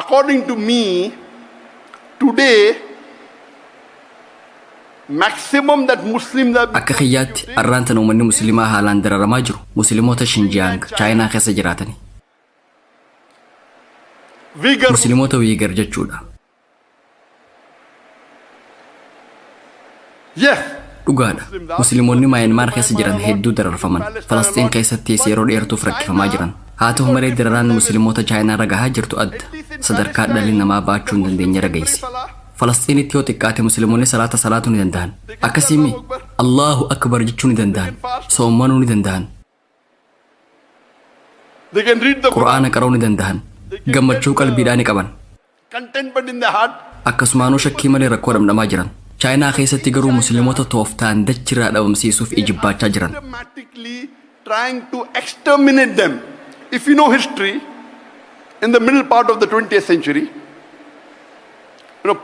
According to me, today maximum that Muslims are Akka kiyyaatti arraan tana uummanni musliimaa haalaan dararamaa jiru muslimoota Shinjiyaang Chaayinaa keessa jiraatani. vigorous Muslimoota Wiigar jechuudha. Yes. Dhugaadha. Musliimonni Maayanmaar keessa jiran hedduu dararfaman. Falasxiin keessattis yeroo dheertuuf rakkifamaa jiran. Haa ta'u malee dararaan Musliimota Chaayinaa irra gahaa jirtu adda. Sadarkaa dhalli namaa baachuu hin dandeenye irra geesse. Falasxiinitti yoo xiqqaate Musliimonni salaata salaatuu ni danda'an. Akkasii mii? Allaahu Akbar jechuu ni danda'an. Soommanuu ni danda'an. They can read the Quran. Qur'aana qara'uu ni dandahan. Gammachuu qalbiidhaa ni qaban. Contentment in the heart. Akkasumaanuu shakkii malee rakkoo dhamdhamaa jiran. Chaayinaa keessatti garuu musliimota tooftaan dachirraa dhabamsiisuuf ijibbaachaa jiran. Systematically trying to exterminate them. If you know history, in the middle part of the 20th century, You know,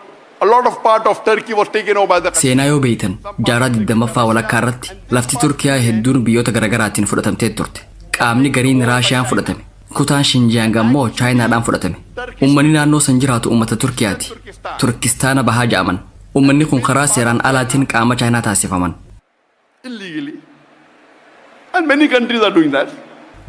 a lot of part of Turkey was taken over by the Seenaa yoo beeytan jaarraa 20ffaa walakkaa irratti lafti Turkiyaa hedduun biyyoota garaagaraatiin fudhatamtee turte. Qaamni gariin Raashiyaan fudhatame. Kutaan Shinjiyaang ammoo Chaayinaadhaan fudhatame. Uummanni naannoo san jiraatu uummata Turkiyaati. Turkistaana bahaa ja'aman. Uummanni kun karaa seeraan alaatiin qaama Chaayinaa taasifaman. illegally and many countries are doing that.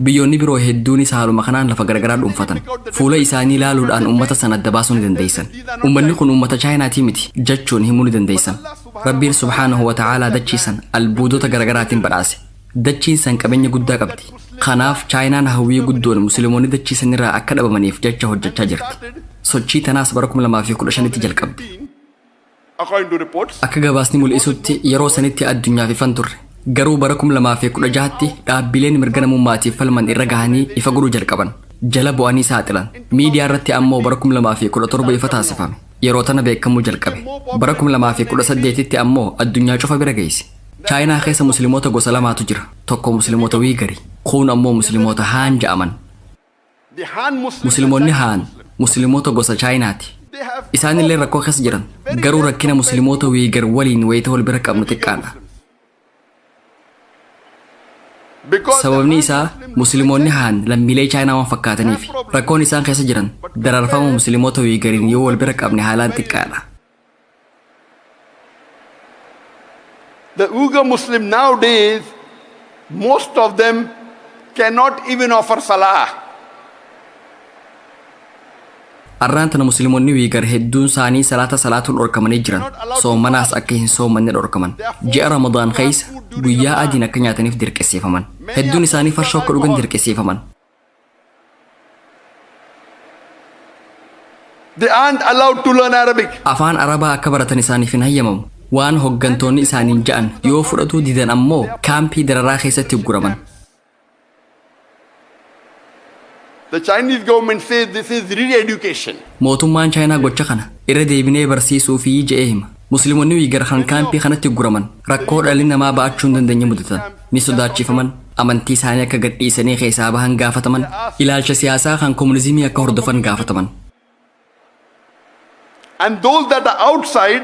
Biyyoonni biroo hedduunis haaluma kanaan lafa garagaraa dhuunfatan. Fuula isaanii ilaaluudhaan uummata sana adda baasuu ni dandeessan. Uummanni kun uummata Chaayinaatii miti jachuun himuu ni dandeessan. Rabbiin subhaanahu wa ta'aalaa dachii san albuudota garagaraatiin badhaase. Dachiin san qabeenya guddaa qabdi. Kanaaf Chaayinaan hawwii guddoon Muslimoonni dachii sanirraa akka dhabamaniif jacha hojjachaa jirti. Sochii tanaas bara 2015tti jalqabde. According to reports, Akka gabaasni mul'isutti yeroo sanitti addunyaaf ifan turre. Garuu bara 2016tti dhaabbileen mirga namummaatiif falman irra gahanii ifa godhuu jalqaban. Jala bu'anii saaxilan. Miidiyaa irratti ammoo bara 2017 ifa taasifame. Yeroo tana beekamuu jalqabe. Bara 2018tti ammoo addunyaa cufa bira geesse. Chaayinaa keessa Muslimoota gosa lamaatu jira. Tokko Muslimoota Wiigari. Kuun ammoo Muslimoota Haan ja'aman. The Han Muslims are Musliimonni Chinese Haan Muslims. Musliimota gosa Chaayinaati. They have Isaan illee rakkoo keessa jiran. Very Garuu less rakkina compared Musliimota to Wiigar waliin wayita wal bira qabnu the Uyghur xiqqaadha. Muslims. Because the Sababni Han isaa Muslims Musliimonni are Haan lammiilee Chaayinaa waan fakkaataniif rakkoon isaan keessa jiran daraarfama Musliimota Wiigariin yoo wal bira qabne haalaan xiqqaadha. The Uyghur Muslim nowadays, most of them cannot even offer salah. Arraan tana musliimonni wiigar hedduun isaanii salaata salaatuu dhorkamanii jiran soomanaas akka hin soomanne dhorkaman ji'a ramadaan keessa guyyaa adiin akka nyaataniif dirqisiifaman hedduun isaanii farshoo akka dhugan dirqisiifaman They aren't allowed to learn Arabic. Afaan Arabaa akka baratan isaaniif hin hayyamamu. Waan hoggantoonni isaaniin ja'an yoo fudhatuu didan ammoo kaampii dararaa keessatti ugguraman. The Chinese government says this is re-education. Mootummaan Chaayinaa gocha kana irra deebinee barsiisuu fi je'ee hima. Musliimonni Uyghur kan kaampii kanatti ugguraman rakkoo dhalli namaa ba'achuu hin dandeenye mudatan. ni sodaachifaman, amantii isaanii akka gad dhiisanii keessaa bahan gaafataman, ilaalcha siyaasaa kan komunizimii akka hordofan gaafataman. And those that are outside,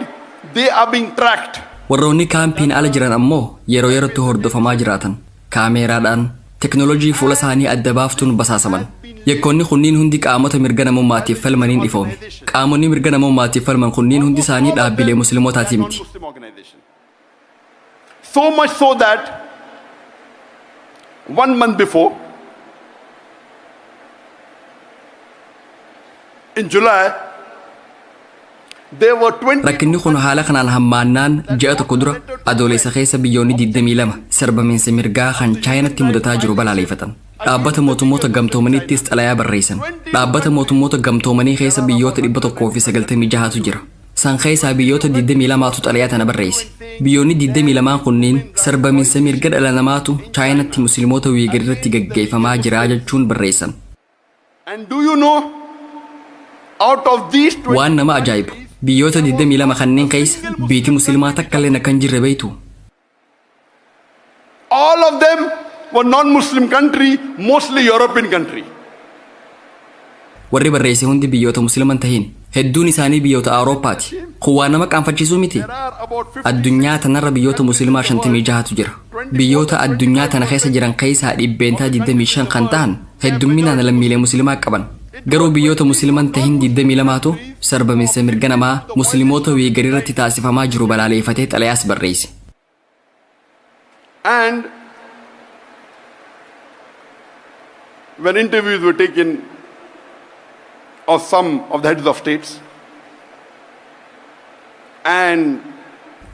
they are being tracked. Warroonni kaampiin ala jiran ammoo yeroo yerootti hordofamaa jiraatan, kaameeraadhaan, teknolojii fuula isaanii adda baaftuun basaasaman. Yakkoonni kunniin hundi qaamota mirga namummaatiif falmaniin ifoome. Qaamonni mirga namummaatiif falman kunniin hundi isaanii dhaabbilee Muslimootaati miti. So much so that one month before, in July, there were 20 Rakkinni kun haala kanaan hammaannaan ji'a tokko dura adoolessa keessa biyyoonni 22 sarbamiinsa mirgaa kan chaayinatti mudataa jiru balaaleffatan. Dhaabbata mootummoota gamtoomaniittis xalayaa barreessan. Dhaabbata mootummoota gamtoomanii keessa biyyoota 196tu jira. San keessaa biyyoota 22tu xalayaa tana barreesse. Biyyoonni 22n kunniin sarbaminsa mirga dhala namaatu Chaayinatti Muslimoota Wiigar irratti gaggeeffamaa jira jechuun barreessan. And do you know, out of these 20 Waan nama ajaa'ibu, biyyoota 22 kanneen keessa biyti Muslimaa takkalleen akka hin jirre beektuu? All of them were non-Muslim country, mostly European country. Warri barreesse hundi biyyoota Muslima hin tahin. Hedduun isaanii biyyoota Awurooppaati. Kun waa nama qaanfachiisuu miti. Addunyaa tanarra biyyoota Muslimaa 56tu jira. Biyyoota addunyaa tana keessa jiran keessaa dhibbeentaa 25 kan tahan heddumminaan lammiilee musilimaa qaban. Garuu biyyoota musiliman tahin 22tu sarbaminsa mirga namaa muslimoota Wiigariratti taasifamaa jiru balaaleefatee xalayaas barreeyse. And when interviews were taken of some of the heads of states, and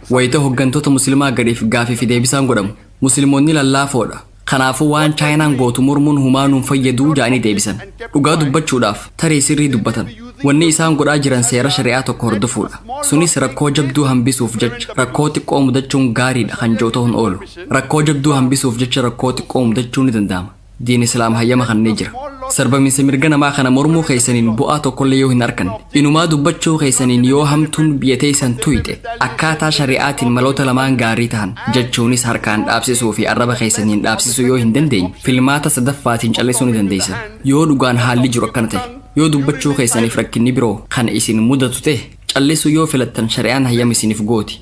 Wayita hoggantoota Muslimaa gadiif gaaffii fi deebisaan godhamu, Muslimoonni lallaafoo dha. Kanaafuu waan Chaayinaan gootu mormuun humaa nu hin fayyadu ja'anii deebisan. Dhugaa dubbachuudhaaf, tarii sirrii dubbatan. Wanni isaan godhaa jiran seera shari'aa tokko hordofuudha. Sunis rakkoo jabduu hambisuuf jecha rakkoo xiqqoo mudachuun gaarii dha kan ja'u ta'uu hin oolu. Rakkoo jabduu hambisuuf jecha rakkoo xiqqoo mudachuu ni danda'ama. Diin Islaam hayyama kannee jira. Sarbaminsa mirga namaa kana mormuu keessaniin bu'aa tokkollee yoo hin arkanne, inumaa dubbachuu keessaniin yoo hamtuun biyya teessan tuyxe, akkaataa shari'aatiin maloota lamaan gaarii tahan, jechuunis harkaan dhaabsisuu fi arraba keessaniin dhaabsisuu yoo hin dandeenye, filmaata sadaffaatiin callisuu ni dandeessan. Yoo dhugaan haalli jiru akkana tahe, yoo dubbachuu keessaniif rakkinni biroo kan isin mudatu tahe, callisuu yoo filattan shari'aan hayyama isiniif gooti.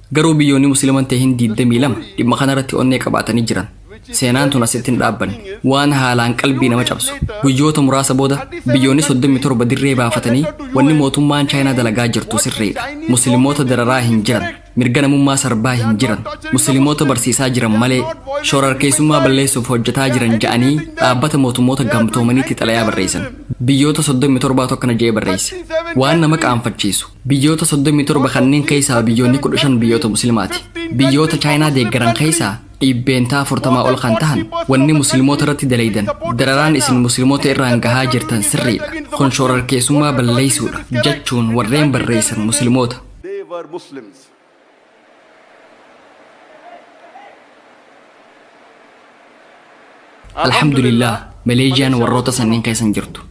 Garuu biyyoonni musliman tahin 22 dhimma kanarratti onnee qabaatanii jiran. Seenaan tun asitti hin dhaabbanne. Waan haalaan qalbii nama cabsu. Guyyoota muraasa booda biyyoonni 37 dirree baafatanii wanni mootummaan Chaayinaa dalagaa jirtu sirriidha. Muslimoota dararaa hin jiran. Mirga namummaa sarbaa hin jiran. Muslimoota barsiisaa jiran malee shorarkeessummaa balleessuuf hojjetaa jiran ja'anii dhaabbata mootummoota gamtoomaniitti xalayaa barreessan. Biyyoota 37 tokko na ja'ee barreesse. Waan nama qaanfachiisu. Biyyoota 37 kanneen keessaa biyyoonni 15 biyyoota musliimaati. Biyyoota Chaayinaa deeggaran keessaa dhiibbeentaa 40 ol kan tahan wanni musliimoota irratti dalaydan dararaan isin musliimoota irraan gahaa jirtan sirriidha. Kun shoorarkeessummaa balleessuudha jechuun warreen barreessan musliimoota. They were Muslims. Alhamdulillah, Maleeziyaan warroota sanniin keessan jirtu.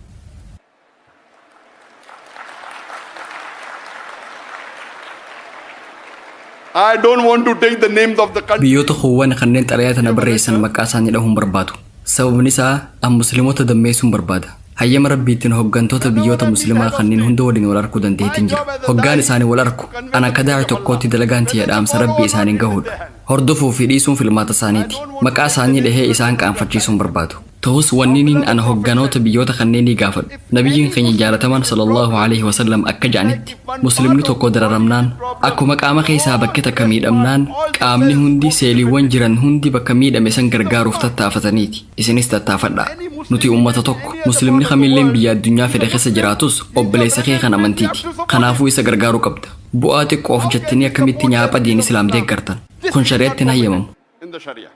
I don't want to take the names of the country. Biyyoota kuuwwan kanneen xalayaa tana barreessan maqaa isaanii dhahuun barbaadu. Sababni isaa an musliimota dammeessuun barbaada. Hayyama rabbiitiin hoggantoota biyyoota musliimaa kanneen hunda waliin wal arkuu dandeettiin jira. Hoggaan isaanii wal arku an akka daa'i tokkootti dalagaan tiyya dhaamsa rabbii isaaniin gahuudha. Hordofuu fi dhiisuun filmaata isaaniiti. Maqaa isaanii dhahee isaan qaanfachiisuun barbaadu. Tahus wanniniin an hogganoota biyyoota kanneenii gaafadhu, Nabiyyiin keenya jaalatamaan sallallaahu aleyhi wa sallam akka ja'anitti, Muslimni tokko dararamnaan, akkuma qaama keessaa bakki takka miidhamnaan, qaamni hundi, seeliiwwan jiran hundi bakka miidhame san gargaaruuf tattaafataniiti. Isinis tattaafadhaa. Nuti ummata tokko. Muslimni kamilleen biyya addunyaa fedhe keessa jiraatus, obboleessa kee kan amantiiti. Kanaafuu isa gargaaruu qabda. Bu'aa xiqqoof jettanii akkamitti nyaapha diin islaam deeggartan? Kun shari'atti hin hayyamamu. in the Sharia.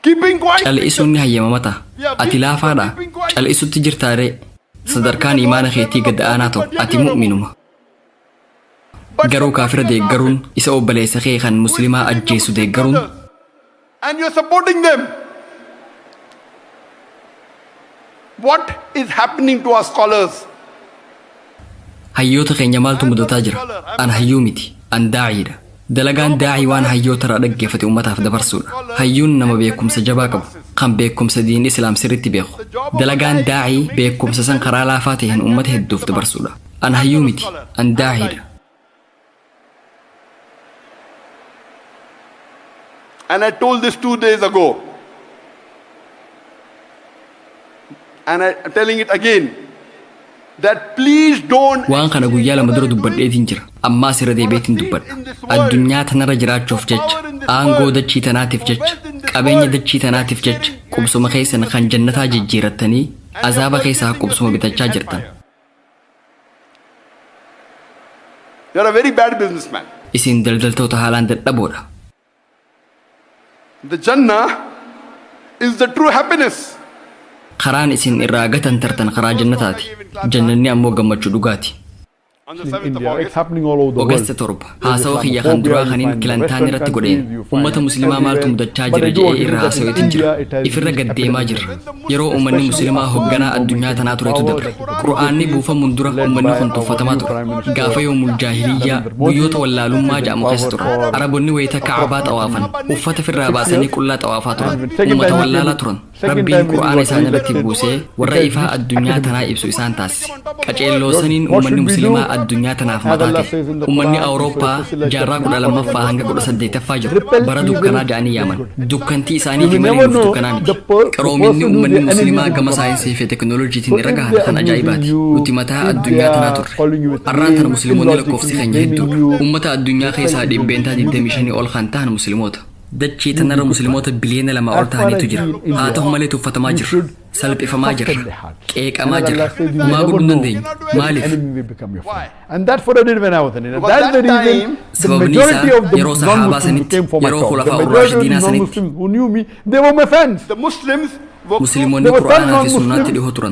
Keeping quiet means Cal'isuun ni hayyamama ta'a. Yeah, Ati being- laafaadha. you're keeping quiet. Cal'isutti jirtaa ree. Sadarkaan imaana keetii gad aanaa ta'u ati mu'minuma. But Garuu supporting kaafira your deeggaruun kafir isa obboleessa kee kan who is muslimaa killing your ajjeesu Muslim deeggaruun brothers, And you're supporting them. What is happening to our scholars? Hayyoota keenya maaltu mudataa jira? An hayyuu miti. An daa'iidha. Dalagaan daa'ii waan hayyootarraa dhaggeeffate ummataaf dabarsuudha. Hayyuun nama beekumsa jabaa qabu, kan beekumsa diin Islaam sirriitti beeku. Dalagaan daa'ii beekumsa san karaa laafaa taheen ummata hedduuf dabarsuudha. An hayyuu miti. An daa'iidha. And I told this two days ago. And I, I'm telling it again. That please don't. waan kana guyyaa lama dura dubbadheetiin jira ammaas irra deebi'eetiin dubbadha addunyaa tanarra jiraachuuf jecha aangoo dachii tanaatiif jecha qabeenya dachii tanaatiif jecha qubsuma keessan kan jannataa jijjiirattanii azaaba keessaa qubsuma bitachaa jirtan You're a very bad businessman. Isin daldaltoota haalaan dadhaboodha. The Jannah is the true happiness. Karaan isin irraa gatantartan karaa jannataati. Jannanni ammoo gammachuu dhugaati. Ogasta torba. Haasawa kiyya kan duraa kanin Kilantaan irratti godheen, ummata Muslimaa maaltu mudachaa jira je'ee irra haasaweetin jira. Ifirra gad deemaa jirra. Yeroo ummanni Muslimaa hogganaa addunyaa tanaa turetu dabre. Qur'aanni buufamuun dura ummanni kun tuffatamaa ture. Gaafa yoomul jaahiliyyaa, guyyoota wallaalummaa ja'amu keessa turan. Arabonni wayta Ka'abaa xawaafan, uffata firraa baasanii qullaa xawaafaa turan. Ummata wallaalaa turan. Rabbiin Qur'aana isaan irratti buusee warra ifaa addunyaa tanaa ibsu isaan taasise. Qaceelloo saniin ummanni muslimaa addunyaa tanaaf mataa tahe. Ummanni Awurooppaa jaarraa 12ffaa hanga 18ffaa jiru bara dukkanaa ja'anii yaaman. Dukkantii isaaniifi malee nuuf dukkanaa miti. Qaroominni ummanni muslimaa gama saayinsiifi teknolojiitiin irra gahan kan ajaa'ibaati. Nuti mataa addunyaa tanaa turre. Arraan tana muslimoonni lakkoofsi keenya hedduudha. Ummata addunyaa keessaa dhibbeentaa 25 ol kan tahan muslimoota. Dachii tanarra Muslimoota biliyoona lamaa ol tahaniitu jira. Haa tahu malee tuffatamaa jirra. Salphifamaa jirra. Qeeqamaa jirra. Homaa godhuu hin dandeenyu. Maaliif? Sababni isaa yeroo Sahaabaa sanitti, yeroo Khulafaa Ur-Raashidiinaa sanitti, Muslimoonni Qur'aanaa fi Sunnaatti dhihoo turan.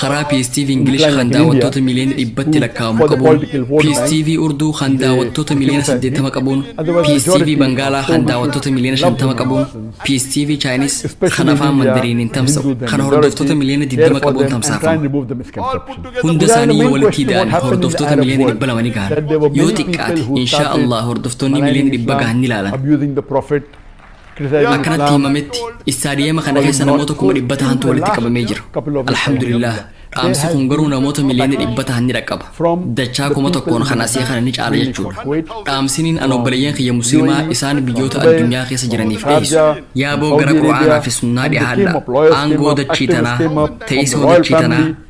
Karaa PSTV English kan daawwattoota miliyoona dhibbatti lakkaa'amu qabuun, PSTV Urduu kan daawwattoota miliyoona 80 qabuun, PSTV Bangaalaa kan daawwattoota miliyoona 50 qabuun, PSTV Chaayiniis kan afaan Mandariiniin tamsa'u kan hordoftoota miliyoona 20 qabuun tamsaafama. Hunda isaanii yoo walitti ida'an hordoftoota miliyoona 200 ni gahan. Yoo xiqqaate, inshaa Allah hordoftoonni miliyoona 100 gahan ni laalan. Akka natti himametti istaadiyeema kana keessa namoota kuma dhibba tahantu walitti qabamee jira. Alhamdulillah, dhaamsi kun garuu namoota miliyoonni dhibba tahan ni dhaqqaba. Dachaa kuma tokkoon kan asii kana ni caala jechuudha. Dhaamsiniin an obboleeyyan kiyya muslimaa isaan biyyoota addunyaa keessa jiraniif dhiyeessu. Yaaboo gara Qur'aanaa fi Sunnaa dhihaadhaa. Aangoo dachii tanaa, teessoo dachii tanaa,